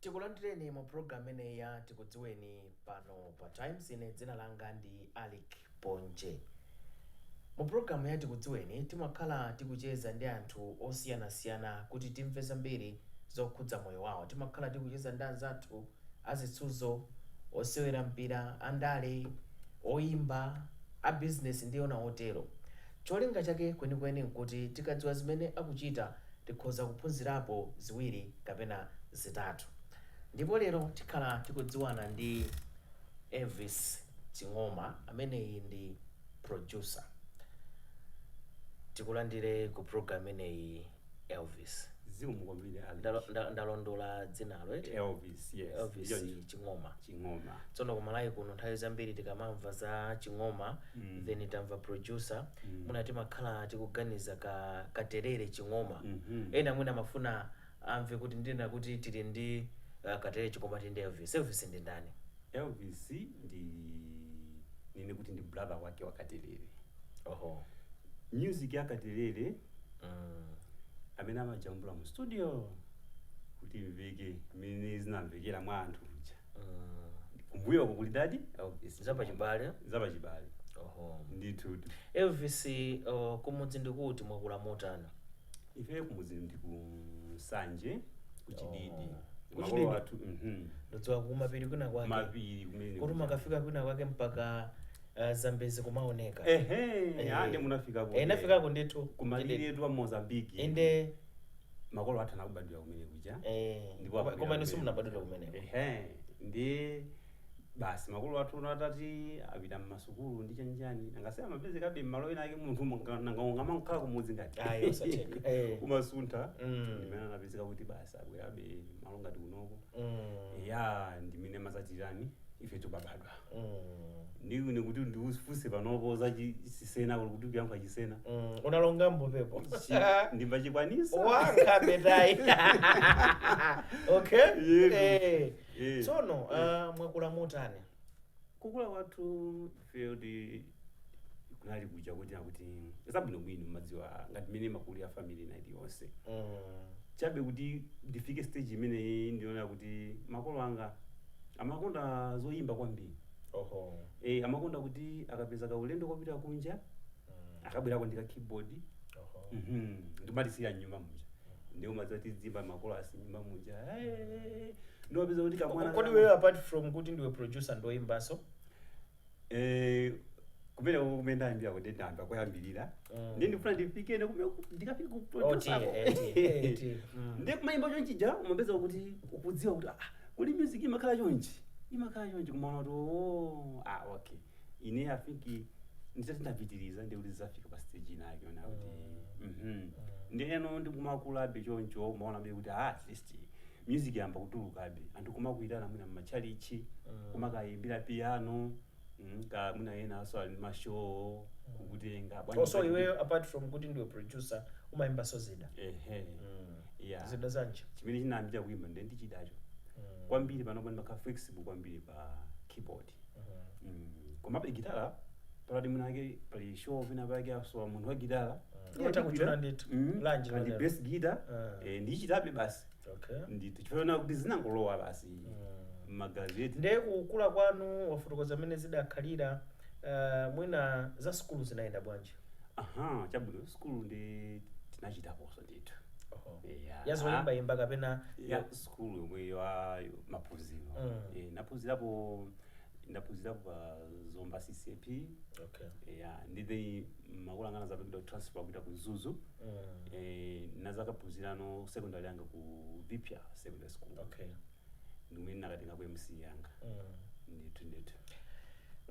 tikulandireni mu programu imeneyi ya tikudziweni pano pa times ine dzina langa ndi alick ponje mu programu ya tikudziweni timakhala tikucheza ndi anthu osiyanasiyana kuti timve zambiri zokhudza moyo wawo timakhala tikucheza ndi anzathu azisudzo osewera mpira andale oyimba a bizinesi ndi ena otero cholinga chake kwenikweni nkuti tikadziwa zimene akuchita tikhoza kuphunzirapo ziwiri kapena zitatu. Ndipo lero tikhala tikudziwana ndi Elvis Ching'oma ameneyi ndi producer. Tikulandire ku program imeneyi Elvis. Zikomo kwambiri Ndalo- Elvis. nda- Ndalondola dzinalo eti? Elvis, yes. Elvis Ndicho- Ching'oma. Ching'oma. Tsono kumalayi kuno nthawi zambiri tikamamva za Ching'oma mm. then tamva producer mm. mwina timakhala tikuganiza ka katerere ching'oma mm -hmm. ena mwina amafuna amve kuti ndinena kuti tili ndi uh, katerere ching'oma tili ndi elvis elvis ndi ndani elvis ndinene kuti ndi brother wake wa katerere oho music ya katerere mm. amene amajambula mu studio kuti imveke mmene zinamvekera mwa anthu muja kumbuyoko kuli ndani elvis zapachibale zapachibale oho ndithu elvis uh, kumudzi ndi kuti mwakula motana ife kumudzi ndi ku nsanje ku chididi Oh. makolo Ku chididi? athu mhm. ndodziwa kumapiri kwina kwake mapiri kumene kuti mmakafika kwina kwake mpaka uh, zambezi kumaoneka ehe Eh. ande munafikako Eh, nafikako ndithu kumalire etu a mozambiki inde makolo athu anabadwira kumene kuja Eh, ndipo koma- akubwera koma inu kumene. simunabadwira kumeneko. Ehe, ndiye basi makolo athu ono atati apita mmasukulu ndi chanichani angasema amapezekabe mmalo ena ake munthu munga- nanga ungamakhala kumudzi ngati Ayi, osatheka. Eh. kumasuntha Mm. ndimene anapezeka kuti basi abwerabe malo ngati kunoko Mm. ya ndimene mapezekano ife tikubadwa ndiye ine kuti ndifunse panopo za chi- chisena kuti kuyankhula chisena Mm, unalonga mbodzepo Chi- ndimbachikwanisa wanga betai okay Yebo. Eh. Eh. tsono ah, mwakula motani kukula kwathu field kunali kuja kuti nakuti zabwinobwino madziwa ngati mmene imakulira family ina iliyonse Mm. chabe kuti ndifike stage imeneyi ndimaona kuti makolo anga amakonda zoyimba kwambiri Oho. e, amakonda kuti akapeza kaulendo kopita kunja Mm. akabwerako ndi ka keyboard Oho. Mhm. ndikumalizira nyumba muja ndiye mmadziwa tiziyimba makolo asi nyumba muja Eh, ndiye upeza kuti kamwana Kodi iweyo apart from kuti ndiwe producer ndiwoyimbanso? Eh, kumene kumene ndayambira kuti ndayamba koyambirira Mm. ndi ndifuna ndifike kumene ndikafika ku- ku- Oti, kusako. eti, eti, mm. ndi kumayimba chonchija umapeza kuti ukudziwa kuti ah, kuli music imakhala chonchi imakhala chonchi kumaona kuti oh, ah, okay ine i think nditati ndapitiriza ndi kuti ndizafika pa stage ina yake ona kuti mhm. ndi eno ndikumakulabe choncho umaonabe kuti ah, at least music yayamba kutulukabe anthu kumakuyitana mwina mmatchalitchi kumakayimbira piano mm, kaya mwina enanso ali ndi mashow kukutenga bwanji also kuti- iweyo apart from kuti ndiwe producer umayimbanso zida ehe yeah zida zanji chimene chinayambirira kuyimba ndi chidacho kwambiri panopa ndimakhala flexible kwambiri pa keyboard Mm, komabe gitala penapake pali show penapake asowa munthu wa gitala Mm. Utakuchula ndithu. Mm, Lanji kali lotero. bass guitar Ah. eh, ndichitabe basi okay ndithu chifukwa kuti zinangolowa basi mmagazi eti ndiye kukula kwanu wafotokoza mmene zidakhalira uh, mwina za sukulu zinayenda bwanji aha chabwino sukulu nde tinachitaponso ndithu Oho. Eya. ya zoyimbayimba kapena ya sukulu yomweyo ya maphunziro Mm. Eh, ndaphunzirapo ndaphunzirapo pa zomba ccap okay. ya ndiye makolo anga anazapatsidwa transfer kupita ku mzuzu mm. eh, ndinazakaphunzirano secondary yanga ku viphya secondary school okay. ndimene ndinakatengako msce yanga ndithu ndithu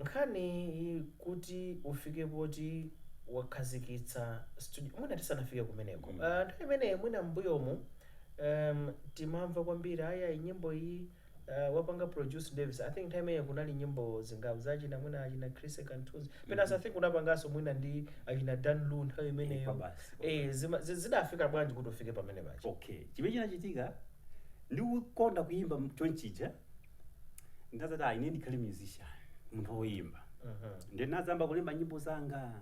nkhani iyi kuti ufike poti wakhazikitsa studio mwina tisanafike kumeneko Mm. Ah, nthawi imeneyi mwina mbuyomu um, timamva kwambiri ayi nyimbo iyi uh, wapanga produce davis i think nthawi imeneyi kunali nyimbo zingapo za achina mwina achina chris kantuzi pena mm i think unapanganso mwina ndi achina dan lu nthawi Eh, imeneyo kwabasi, kwabasi. eh, zima- zi- zidafika bwanji kuti ufike pamenepaja okay chimene chinachitika ndikukonda kuyimba chonchija ndinazati ayi ine ndikhale musician munthu woyimba ndiye ndinazayamba kulemba nyimbo zanga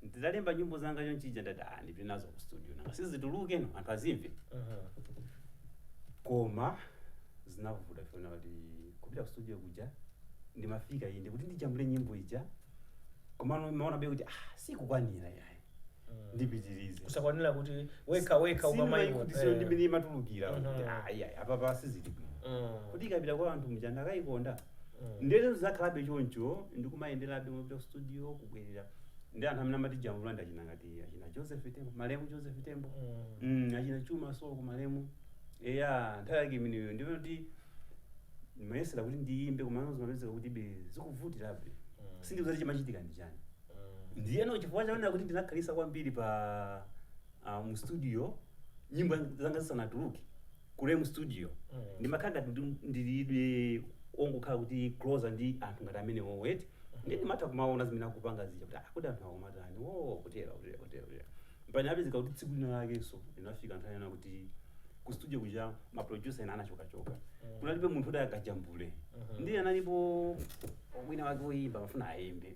nditalemba nyimbo zanga chonchija ndati ah ndipite nazo ku studio nanga si zitulukeno anthu azimve koma zinavuta chifukwa kuti kupita ku studio kuja ndimafika inde kuti ndijambule nyimbo ija komano ndimaonabe kuti ah sikukwanira yayi ndipitirize kusakwanira kuti wekha wekha ukamaimva sindimakhutitsidwa ndi mmene imatulukira Mhm. kuti ayi ayi apapa sizili bwino kuti ikapita kwa anthu mja akayikonda nde eti zakhalabe choncho ndikumayenderabe kupita ku studio kubwerera ndi anthu amene amatijambula nda achina ngati achina joseph tembo malemu joseph tembo Mm, achina chuma soko malemu eya nthawi yake imeneyo ndipo kuti ndimayesera kuti ndiyimbe koma zimapezeka kuti be zikuvutirabe sindidziwa kuti chimachitika ndi chani ndiyeno chifukwa choonena kuti ndinakhalisa kwambiri pa uh, mu studio nyimbo zanga zisanatuluke mule mu studio Mm. ndimakhala ngati ndi- ndili ongokhala kuti closer ndi anthu ngati amenewowo eti ndiye ndimatha kumaona zimene akupanga zija kuti ah, kuti anthu akumataniwo kutera kutera kutera kutera mpaka anapezeka kuti tsiku lina lakenso linafika nthawi yonena kuti ku studio kuja maproducer ena anachokachoka kunalibe munthu woti akajambule Mhm. ndiye analipo wina wake woyimba amafuna ayimbe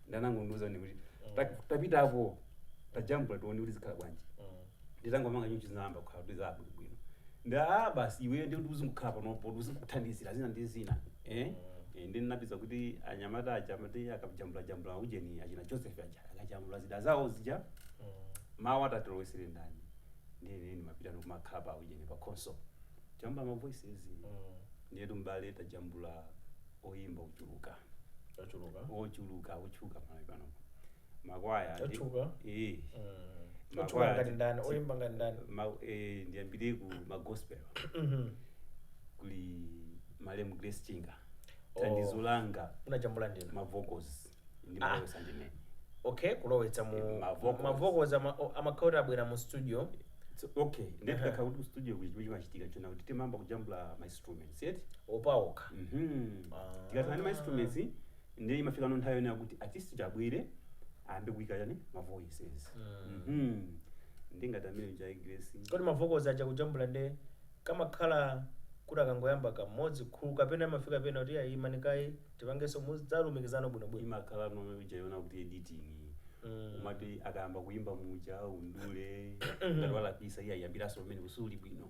ndiye anangondiuza ine kuti "Ta- tapita apo tajambula tione kuti zikhala bwanji nditangomanga chonchi zinayamba kukhala kuti zabwinobwino ndiye a basi iwe ndi kuti uzingokhala panopo kuti uzingokuthandizira zina ndi zina eh Eh, ndiye ndinapeza kuti anyamata aja amati akajambula jambula ujeni achina joseph aja akajambula zida zawo zija mawu atilowetsere ndani ndine ndimapita ndikumakhala pa ujeni pa console kujambula ma voices ndiye tumbale tajambula oyimba ochuluka ochuluka ochuluka ochuluka pa Malawi panopo makwaya ndi- Otchuka? eh Mm. Makwaya Otchuka ngati ndi- ndani ti- oyimba ngati ndani ma- eh, ndiyambire ku magospel Mhm. kuli malemu grace chinga Oh. thandizo langa munajambula ndinu mavocals ndi Ah. ndimalowetsa ndine okay kulowetsa mu Eh, ma vocals. mavocals amakhala kuti abwera mu studio So, okay ndi kukhala kuti studio ku chimachitika chonena kuti timayamba kujambula ma instruments yeah paokha Mhm. Ah. tikathana ndi ma instruments ndiye imafika no nthawi yonena kuti artist uja abwere ayambe kuika chani ma voices Mhm. ndi ngati amene achina grace kodi mavocals aja kujambula nde kamakhala kuti akangoyamba kamodzi kuthulu kapena amafika pena kuti ayi imani kaye tipangenso mudzalumikiza bwinobwino imakhala nthawi ija yonena kuti editing Mm. umati akayamba kuyimba muja umdule ngati walakwitsa iye ayambiranso pamene pasali bwino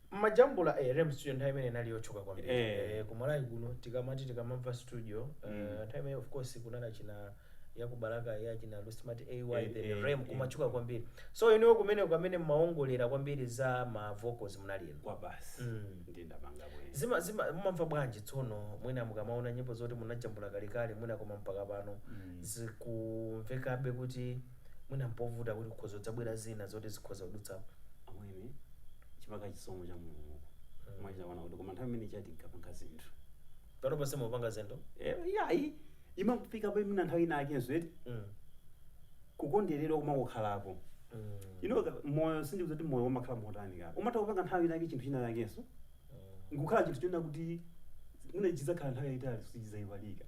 Mmajambula ee Rem studio nthawi imeneyo inali yotchuka kwambiri Ee. ee ku Malawi kuno tikamati tikamamva studio ee Mm. nthawi imeneyo of course kunali achina ya ku Balaka ya achina Lusmat AY Ee, then ee, Rem ee. kumatchuka kwambiri so inuyo kumeneko amene mmaongolera kwambiri za ma vocals munali inu kwabasi Mm. ndiye ndapanga bwezi zina zina mumamva bwanji tsono mwina mukamaona nyimbo zoti munajambula kalekale mwina koma mpaka pano Mm. zikumvekabe kuti Mwina n'povuta kuti kukhoza kudzabwera zina zoti zikhoza kudutsapo. amwene ndi chisomo cha mulungu kumachita kuona kuti koma nthawi imene ija tinkapanga zinthu Pano ponse mukupanga zinthu. Eh, iyayi imafika pa imene nthawi inaakenso eti Mm. kukonderedwa kumakukhalapo Mm. ino moyo mudziwa kuti moyo umakhala motani ka umatha kupanga nthawi inake chinthu china chakenso nkukhala chinthu chonena kuti mwina chidzakhala nthawi yayitali sichidzaiwalika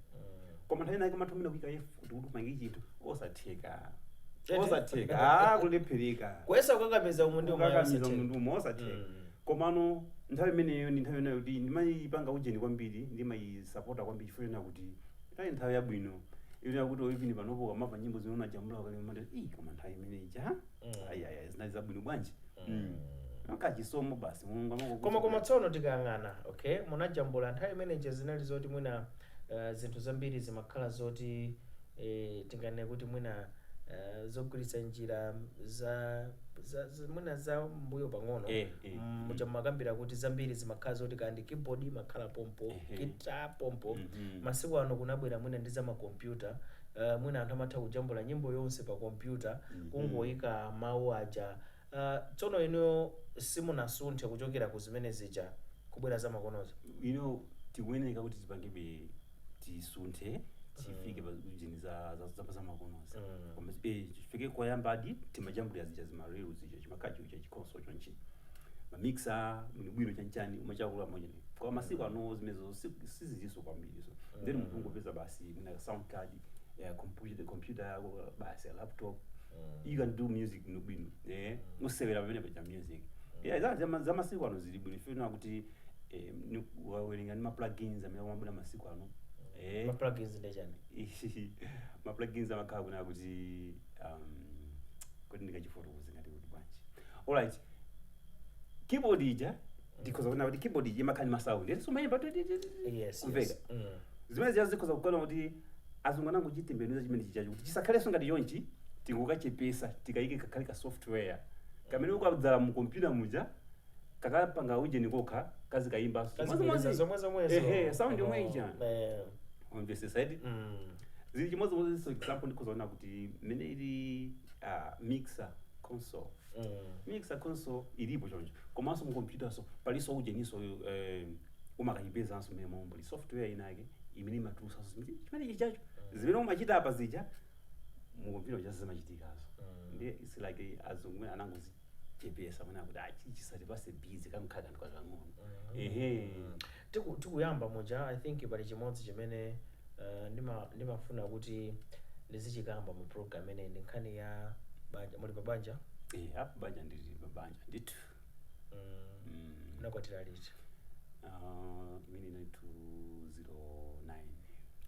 koma nthawi inayake umatha mwina kuyika efoti kuti upange chinthu osatheka Chete. osatheka ah kulephereka kuyesa kukakamiza umu ndi ukakamiza munthu umo osatheka Mm. komano nthawi imeneyo ndi nthawi imeneyo kuti ndimayipanga ujeni kwambiri ndimayisapota kwambiri chifukwa chonena kuti nthawi nthawi yabwino yonena kuti even panopo ukamamva nyimbo zimene unajambula kale umati ii koma nthawi imeneyi ja Mm. ayaya zinali zabwino bwanji Mm. koma chisomo basi mulungu amangokudutsa koma koma basi. tsono tikayang'ana okay munajambula nthawi imeneja zinali zoti mwina eh, zinthu zambiri zimakhala zoti eh, tinganene kuti mwina eh, zogwiritsa njira za, za, za mwina za mbuyo pang'ono Eh, eh, Mm, muja mumakambira kuti zambiri zimakhala zoti kaya ndi keyboard imakhala pompo Ehe. gita pompo Mhm. masiku ano kunabwera mwina ndi za makompyuta Uh, mwina anthu amatha kujambula nyimbo yonse pa kompyuta mm -hmm. kungoyika mawu aja uh, tsono inuyo simunasunthe kuchokera ku zimene zija kubwera za makonozi you know tikuyeneka kuti tipangebe tisunthe tifike pa zinthu za- za- za- za makonozi Mm. Koma si- eh, tifike koyambadi timajambulira zija zima reel zija chimakacho cha chi console chonchi kumamixa bwinobwino chanchani umachita kula mwenye koma masiku ano zimenezo si- sizilinso kwambiri so then munthu ungopeza basi mwina ka sound card eh, computer computer yako basi ya laptop you can do music bwino bwino eh umasewera pamene paja music yeah za- za- za masiku ano zili bwino chifukwa kuti eh, ni- wawerenga ni ma plugins amene amabwera masiku ano eh ma plugins ndi chani ma plugins amakhala kunena kuti um, kuti ndikachifotokoze ngati kuti bwanji alright keyboard ija ndikhoza kunena kuti keyboard ija imakhala ndi masaundi eti si umayimba tu- tu- tu- tu- yes kumveka yes mm. zimene zija zikhoza kukhala kuti azungu anangochitembenuza chimene chijacho kuti chisakhalenso ngati chonchi tingokachepesa tikayike kakhale ka software kamene ukadzalowa mu kompyuta muja kakapanga ujeni kokha kazikayimbanso kazibwereza zomwe zomwezo ehe sound yomwe ija Eh, on the side mm. zili chimodzimodzinso example ndikhoza kunena kuti mmene ili ah, mixer console Mixer console ilipo choncho komanso mu computer-nso palinso ujeninso eh, umakayipezanso momwe muja muli software ina yake imene imatulusanso zimene- chimene chijacho zimene umachita apa zija mu computer muja zimachitikanso Mm. ndiye it's like azungu mene anangozichepesa mene akuti ah chisatipatse busy kachinthu kake ndikakang'ono Mhm. ehe Tiku tikuyamba muja I think pali chimodzi chimene uh, ndima ndimafuna kuti ndizichikamba mu program imeneyi ndi nkhani ya banja muli pa banja Eh, pa banja ndili pa banja ndithu mm, Mm. munakwatira liti Uh, imene inali 209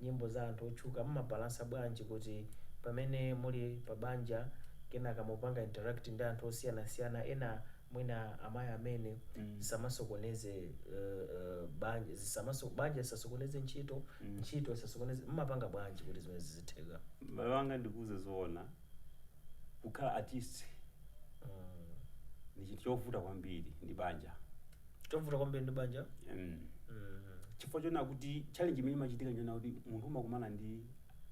Nyimbo za anthu otchuka mumabalansa bwanji kuti pamene muli pa banja kenaka mukupanga interact ndi anthu osiyanasiyana ena mwina amayi amene zisamasokoneze banja zisamaso banja lisasokoneze ntchito ntchito isasokoneze mmapanga bwanji kuti zimenezi zizitheka? M'bale wanga ndikuuze zoona, kukhala artist ndi chinthu chovuta kwambiri ndi banja chovuta kwambiri ndi banja mm. Mm. chifukwa choona kuti challenge imene imachitika njona kuti munthu umakumana ndi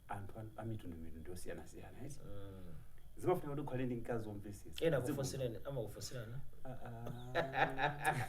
anthu a- a mitundu mitundu yosiyanasiyana yes? Mm. zimafuna kuti ukhale ndi mkazi womvetsetsa ena Dziko- akufunsirana amakufunsirana Ah, ah.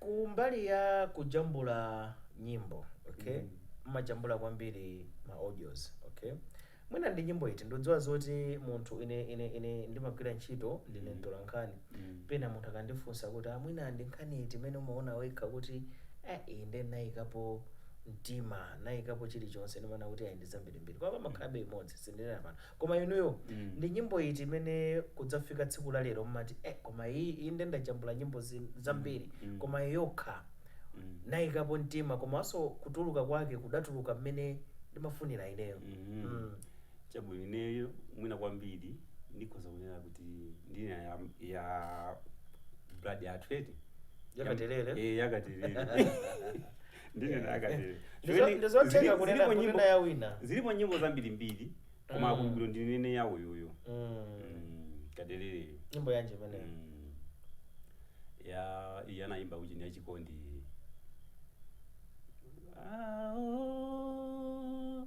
Kumbali ya kujambula nyimbo okay mmajambula kwambiri ma audios okay mwina ndi nyimbo iti ndikudziwa zoti munthu ine ine ine ndimagwira ntchito ndine mtola nkhani pena munthu akandifunsa kuti a mwina ndi nkhani iti imene umaona wekha kuti eh iyi nde nayikapo mtima nayikapo chilichonse ndimaona kuti ayi ndi zambirimbiri koma pamakhalabe imodzi sindinena pano Koma inuyo ndi nyimbo iti imene kudzafika tsiku la lero mmati eh koma iyi iyi nde ndajambula nyimbo zin- zambiri koma iyi yokha nayikapo mtima komanso kutuluka kwake kudatuluka mmene ndimafunira ineyo mm. chabwino ineyo mwina kwambiri ndikhoza kunena kuti ndina ya, ya blood athlete Ya Katelele? eh ya Katelele ndine ndakatero Ndizo- ndizotheka kunena kunena ya wina zilipo nyimbo zambirimbiri koma Mm. akumbukiro ndinene yawo yoyo Mm. Kateleleyo nyimbo yanji imeneyo Mm. ya iye anayimba kuti ya chikondi Ah, oh,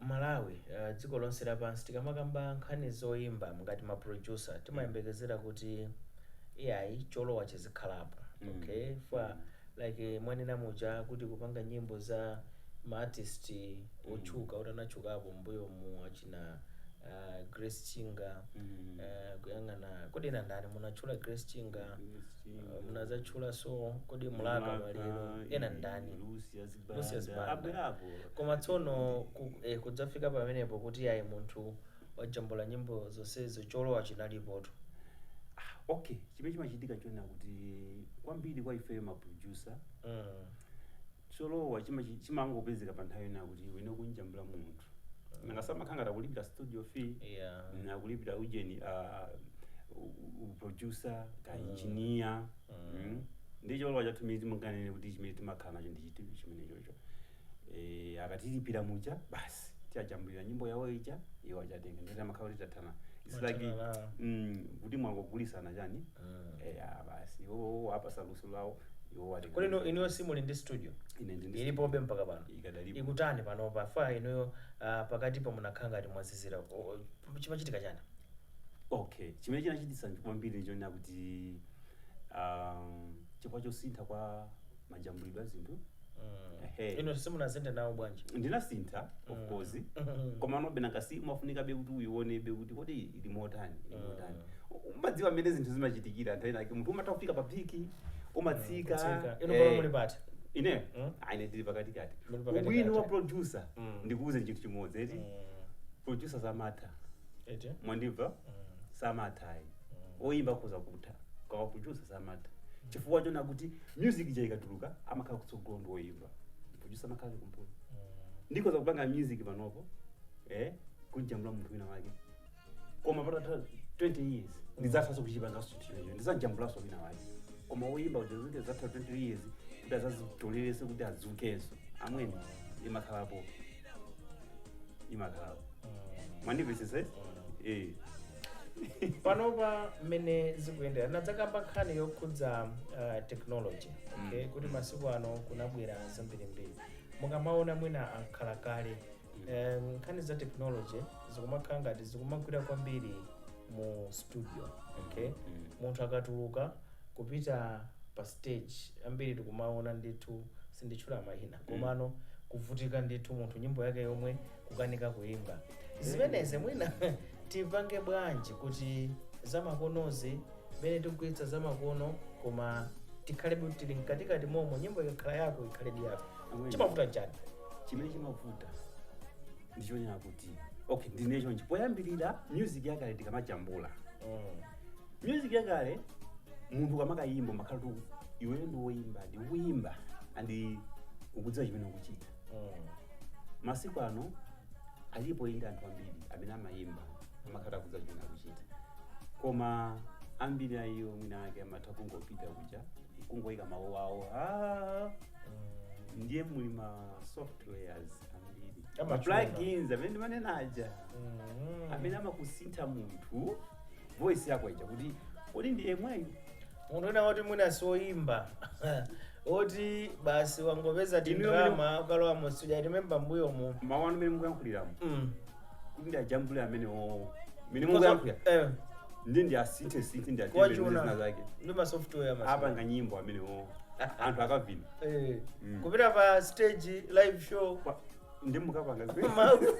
Malawi dziko lonse lapansi tikamakamba nkhani zoimba ngati ma producer timayembekezera kuti ayi cholowa chizikhalapo okay chifukwa like mwanena muja kuti kupanga nyimbo za ma artist otchuka oti anatchukapo mmbuyomu achina ah, Grace Chinga eh, kuyang'ana kodi ena ndani munatchula Grace Chinga eh, munazatchulaso kodi Mlaka Maliro ena ndani Lucia Lucius Banda. Banda. Abwerapo. koma tsono ku, eh, kudzafika pamenepo kuti ayi munthu wajambula nyimbo zonsezo cholowa chinalipotu Ah, okay chimene chimachitika choona kuti kwambiri kwa ifeyo maproducer mm. cholowa chimachi- chimangopezeka pa nthawi yona kuti wina ukumjambula munthu nanga si amakhala ngati akulipira studio fee yeah. nakulipira ujeni uh, uproducer ka engineer mm. ndi cholowa chathu mene tinganene kuti chimene timakhala nacho ndi chiti chimene chocho e, akatilipira muja basi tawajambulira nyimbo yawo ija iwo akatenga ndiye amakhala kuti tathana It's like, Mwathana nawo. mm, kuti mwangogulisana chani Mm. e, ah, basi iwo apatsa luso lawo iwo atenga kodi inu inuyo simuli ndi studio Ine ndi- ilipobe mpaka pano Ikadalipo. ikutani pano paja inuyo ah, pakatipa munakhala ngati mwazizira O- o, chimachitika chani okay chimene chinachititsa kwambiri ndichonena kuti um, chifukwa chosintha kwa majambulidwe a zinthu Ehe. inu simunasinthe nawo bwanji ndinasintha of course komanobe nanga si umafunikabe kuti uionebe kuti kodi ili motani ili motani umadziwa mmene zinthu zimachitikira nthawi inayake munthu umatha kufika pa peak umatsika Kutsika. Inu eh, pano muli pati? ine Mm. Ah, ine ndili pakatikati Muli pakatikati. ubwino wa producer Mm. ndikuuze chinthu chimodzi eti producer samatha eti mwandimva samatha ayi oyimba akhoza kutha koma producer samatha chifukwa chonena kuti music ija ikatuluka amakhala kutsogolo ndi oyimba producer amakhala kumbuyo ndikhoza kupanga music panopo eh kumujambula munthu wina wake koma patatha 20 years ndizathanso kuchipanganso chinthucho ndizajambulanso wina wake koma oyimba uja zikadzatha 20 years kuti azazitolerese kuti adzukenso a mwini imakhalapo imakhala mwandimvetsetsa eh panopa mmene zikuyendera nadzakamba nkhani yokhudza uh, technology okay? kuti masiku ano kunabwera zambirimbiri mukamaona mwina akhalakale um, nkhani za technology zikumakhala ngati zikumagwira kwambiri mu studio okay? munthu akatuluka kupita pa stage ambiri tikumaona ndithu sinditchula mayina komano kuvutika ndithu munthu nyimbo yake yomwe kukanika kuimba zimenezi mwina tipange bwanji kuti zamakonozi mmene tikugwiritsa zamakono koma tikhalebe kuti tili mkatikati momo nyimbo ikakhala yako ikhaledi yako Amen. chimavuta chani chimene chimavuta ndichonena kuti okay ndinene chonchi poyambirira music yakale tikamajambula mm. music yakale munthu ukamakayimba umakhala kuti iwe ndiwe woyimba ndi kuyimba and ukudziwa chimene ukuchita masiku ano alipo inde anthu ambiri amene amayimba amakhala akudziwa chimene akuchita koma ambiri a iwo mwinamwake amatha kungopita kuja kungoyika mawu awo "Ah, ndiye muli ma softwares ambiri Amachula. plugins amene ndimanena aja amene amakusintha munthu voice yako ija kuti kodi ndi yemweyu munthu wina woti mwina soyimba oti basi wangopeza Inu yomwe- tindrama ukalowa mu studio timemba mbuyomo mawu anu mene mukuyankhuliramo Mm. kuti ndi ajambule amenewowo mene Kosa- mukuyankhulira eh, ndi ndi asinthe sinthe ndi kuwachuna. atembenuze zina zake ndi ma software masiku. apanga nyimbo amene owo anthu akavina Eh, Mm. kupita pa stage live show Kwa- ndi mukapanga zi Mawu-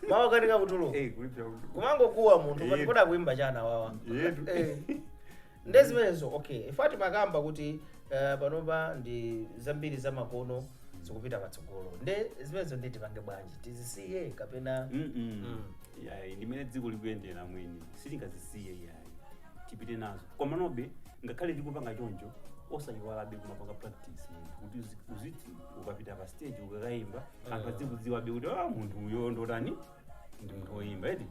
mawu akanika kutuluka Eh, kuli bya kuti kumangokuwa munthu Eh. pati kodi akuimba chani awawa yetu Eh. nde zimenezo okay chifukwa timakamba kuti eh, panopa ndi zambiri za makono zikupita patsogolo nde zimenezo ndi tipange bwanji tizisiye kapena Mm-mm. Mm. yayi ndimene dziko likuyendera mwina sitingazisiye yayi tipite nazo komanobe ngakhale likupanga choncho osayiwalabe kumapanga practice munthu kuti uzi- uzi- ukapita pa stage ukakaimba anthu Eh. adzikudziwabe kuti ah munthu uyo ndotani ndi munthu woyimba edi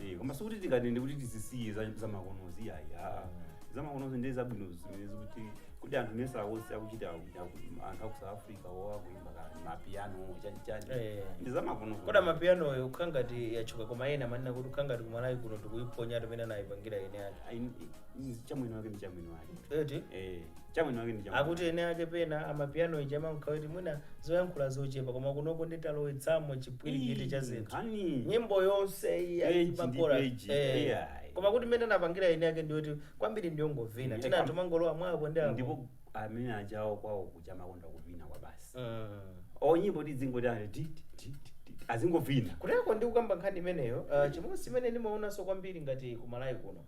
Eh. Eh, koma sikuti tikatero nde kuti tizisiye za- zamakonozi ayi aa Mm. zamakonozi ndi zabwino zimene zikuti kuti anthu mesa wonse akuchita akuchita aku- anthu aku south africa wo akuimba kani amapiano chanichani Eh. ndi zamakonozi kodi amapianoyo kukhala ngati yatchuka koma ena amanena kuti kukhala ngati kumalawi kuno tikuiphonya mmene anayipangira ene ake Ayi, i- i- cha mwini wake ndi cha mwini wake eti Eh, cha mwini wake ndi chabwino akuti ene ake pena amapiano ija imakhala kuti mwina zoyankhula zochepa koma kunoko nde talowetsamo chipwirikiti cha zinthu nkhani nyimbo yonse iyi Page ndi azimakora page, yeah. koma kuti mmene anapangira ene ake ndiyoti kwambiri ndiyongovina Yeah, tina kam- anthu amangolowa mwa apo ndi apo ndipo amene ajawo kwawo kuja amakonda kuvina kwabasi Mm. o nyimbo tidzingoti ali ti- ti- ti- ti- ti- azingovina kuteko ndi kukamba nkhani imeneyo uh, chimodzi chimene ndimaonanso kwambiri ngati kumalawi kuno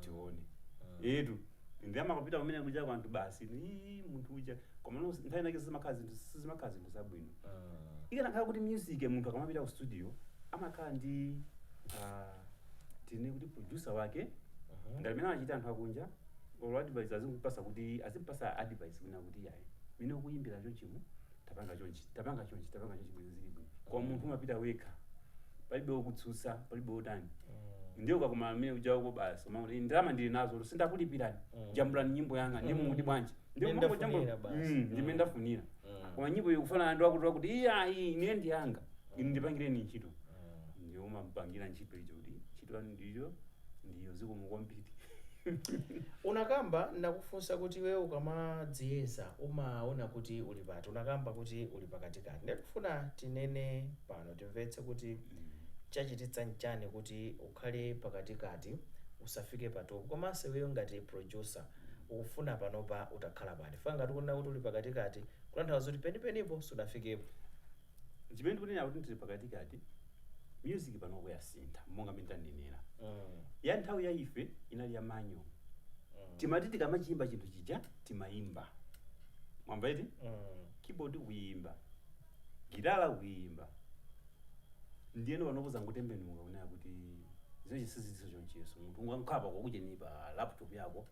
tione etu ndi amakapita kumene kuja kwa anthu basi ii munthu uja koma no- nthawi inake sizimakhala zinthu sizimakhala zinthu zabwino ikanakhala kuti music munthu akamapita ku studio amakhala ndi ah, tinene kuti producer wake ngati mmene amachitira anthu akunja or advice azimpasa kuti azimpasa advice kunena kuti yayi mmene ukuyimbira chonchimu tapanga chonchi tapanga chonchi tapanga chonchi bwino zili bwino koma munthu umapita wekha palibe wokutsutsa palibe wotani ndiye ukakumana amene uja uko basi umaona kuti ndalama ndili nazo si ndakulipirani jambulani nyimbo yanga ndiye mukuti bwanji ndiye Ndimene kumangojambula ndafunira basi. Mm, ndimene ndafunira koma nyimbo ikufanana ndi wakuti wakuti iyayi ine ndi yanga ine ndipangireni ntchito ndiye umapangira ntchito icho kuti ntchito yanu ndiyo ndiyo zikomo kwambiri Unakamba nakufunsa kuti iweyo ukamadziyeza umaona kuti uli pati, unakamba kuti uli pakatikati. Ndiye tikufuna tinene pano timvetse kuti chachititsa nchani kuti ukhale pakatikati usafike pa top. Komanso iweyo ngati producer ukufuna panopa utakhala pati? Chifukwa ngati ukunena kuti uli pakatikati kutanthauza kuti penipenipo sunafikepo. Nchimene ndikunena kuti tili pakatikati, music panopo yasintha monga mmene tanenera. Mm. Ya nthawi ya ife inali ya manual. Mm. Timati tikamachiyimba chinthu chija timayimba. Mwamva eti? Mm. keyboard kuyimba gitala kuyimba ndiyeno panopo zangotembenuka kunena kuti zinazi sizilinso choncho yes munthu ungangopanga kujeni pa laptop yako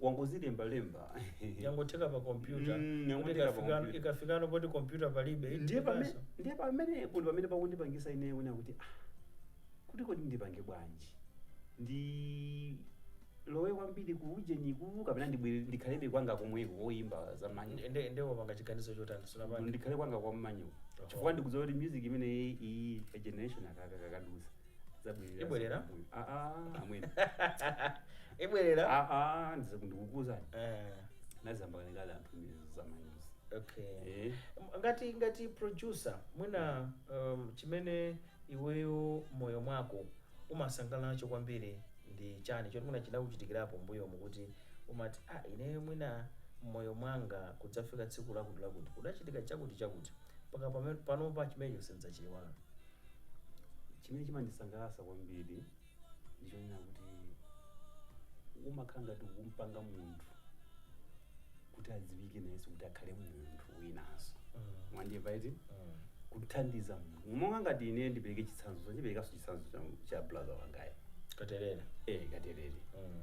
wangozilembalemba yangotheka pa kompyuta Mm, kuti yangotheka pa ikafikano- kompyuta. ikafikano poti kompyuta palibe ndiye itikaso. pamene ndiye pamene kuti pamene pakundipangisa ine kuona kuti ah kuti kodi ndipange bwanji ndilowe kwambiri kuujeniku kapena ndibwere ndikhalebe kwanga komweko koyimba za manual Ndi- ndi- ndiye wapanga chiganizo chotani sunapanga ndikhale kwanga kwa manual Oho. chifukwa ndikudziwa kuti music imeneyi ya generation ikakadutsa zabwerera Ibwerera? kumbuyo. Ah, ah, amwene ibwerera Ah, ah, ndiza- ndikukuuzani Eh, ayamba kalekale anthu za manual-zi okay Eh, M- ngati ngati producer mwina um, chimene iweyo mmoyo mwako umasangala nacho kwambiri ndi chani choti mwina chinakuchitikirapo mbuyomu kuti umati ah ineyo mwina mmoyo mwanga kudzafika tsiku lakuti lakuti kudachitika chakuti chakuti mpaka pame- panopa chimenecho sindidzachiiwala chimene chimandisangalatsa kwambiri ndichonena kuti kumakhala ngati kumpanga munthu kuti adziwike nayenso kuti akhale munthu winanso Mm. mwandimva eti Mm. kuthandiza munthu monga ngati ine ndipereke chitsanzo ndiperekanso chitsanzo cha- cha brother wangayo Katelele eh Katelele Mm.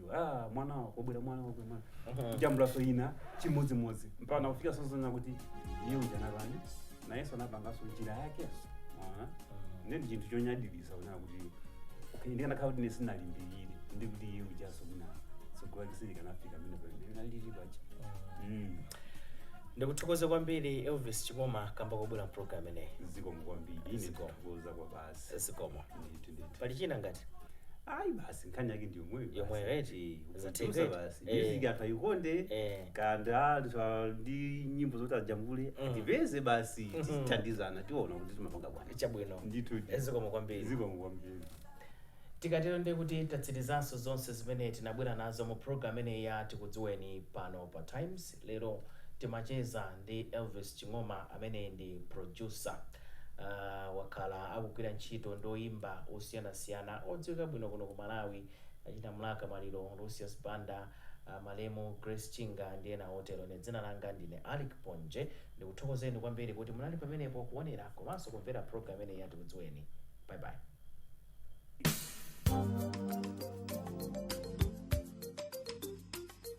iwe ah mwana wa- wabwera mwana wako mwana kujambulanso ina chimodzimodzi mpaka kufika saizi yonena kuti iye uja anapani nayenso anapanganso njira yake Mwaona? ndiye ndi chinthu chonyaditsa kunena kuti okay, ndikanakhala kuti ine sinalimbikire nde kuti iye ujanso kuna tsogolo lake silikanafika pamene alilipa Mm. ndikuthokoze kwambiri Elvis Ching'oma kamba kobwera mpulogalamu inoyi zikomo kwambiri ine Zikomo. ndikuza kwabala basi zikomo ndithu ndithu pali china ngati ayi basi nkhani yake ndi yomweyo Yomweyo, basi. eti. Eh, Za kutuza Tigre. basi Eh. music anthu ayikonde Eh. amene anthu a- ndi nyimbo zoti ajambule Mm. atipeze basi Mhm. tithandizana tiona kuti timapanga bwanji chabwino ndithu ndithu. zikomo kwambiri zikomo kwambiri tikatero ndiye kuti tatsirizanso zonse zimene tinabwera nazo mu program imeneyi ya Tikudziweni pano pa Times Lero timacheza ndi Elvis Ching'oma amene ndi producer. Uh, wakhala akugwira ntchito ndi oyimba osiyanasiyana odziwika bwino kuno ku Malawi achina Mlaka Maliro, Lucius Banda, uh, malemu Grace Chinga ndi ena otero. Ine dzina langa ndine Alick Ponje. Ndikuthokozeni kwambiri kuti munali pamenepo kuonera komanso kumvera program imeneyi ya Tikudziweni. Bye bye.